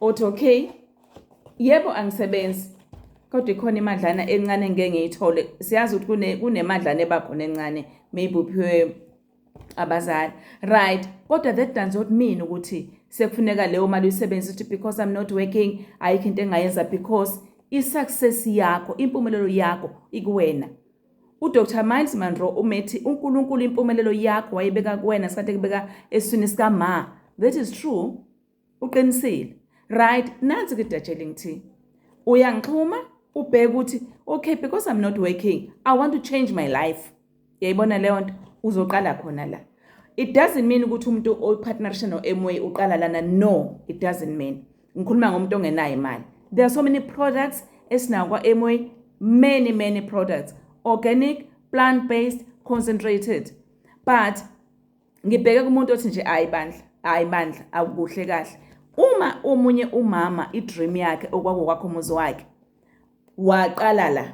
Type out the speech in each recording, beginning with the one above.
Othi okay. Yebo angisebenzi. Kodwa ikhona imadlana encane ngeke ngiyithole. Siyazi ukuthi kune kunemadlana ebakhona encane maybe uphiwe abazali. Right. Kodwa that does not mean ukuthi sekufuneka leyo mali uyisebenzise ukuthi because I'm not working ayikho into engayenza because i-success yakho impumelelo yakho ikuwena uDr Miles Monroe umethi uNkulunkulu impumelelo yakho wayibeka kuwena sikade kubeka eswini sika ma that is true uqinisile right nansi ke dajeling thi uyangixhuma ubheke ukuthi okay because i'm not working i want to change my life yayibona leyo nto uzoqala khona la it doesn't mean ukuthi umuntu opartnership no-MWay uqala lana no it doesn't mean ngikhuluma ngomuntu ongenayo imali there are so many products esinawo kwa-MWay many many products organic plant based concentrated but ngibheke kumuntu othi nje hayi bandla hayi bandla akukuhle kahle uma omunye umama idream yakhe okwakokwakho umuzi wakhe waqala la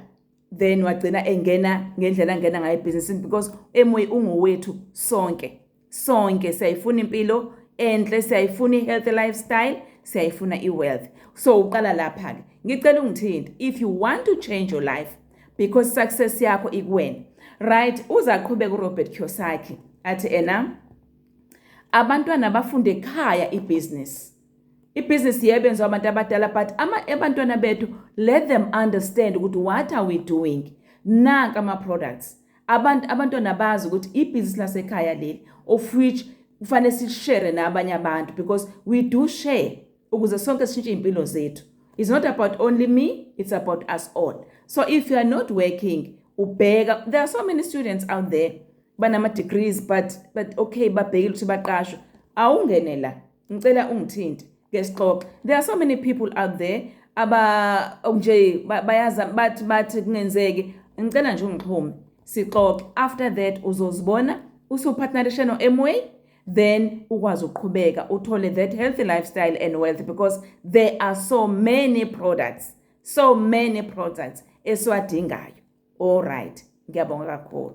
then wagcina engena ngendlela angena ngayo ebhizinisini because emoyi ungowethu sonke sonke siyayifuna impilo enhle siyayifuna i-healthy lifestyle siyayifuna i-wealth so uqala lapha-ke ngicela ungithinte if you want to change your life because success yakho ikuwena right uza qhubeka uRobert Kiyosaki athi ena abantwana bafunde ekhaya ibusiness ibusiness yebenziwa abantu abadala but ama abantwana bethu let them understand ukuthi what are we doing nanka ama products abantu abantwana bazi ukuthi ibusiness lasekhaya leli of which kufanele sishare nabanye abantu because we do share ukuze sonke sishintshe iy'mpilo zethu it's not about only me it's about us all so if you are not working ubheka there are so many students out there banama-degrees but but okay babhekile ukuthi baqashwe awungene la ngicela ungithinte ke sixoxe there are so many people out there aba nje bayaza bathi bathi kungenzeki ngicela nje ungixhume sixoxe after that uzozibona usuphathinarishe no-amway then ukwazi ukuqhubeka uthole that healthy lifestyle and wealth because there are so many products so many products esiwadingayo all right ngiyabonga kakhulu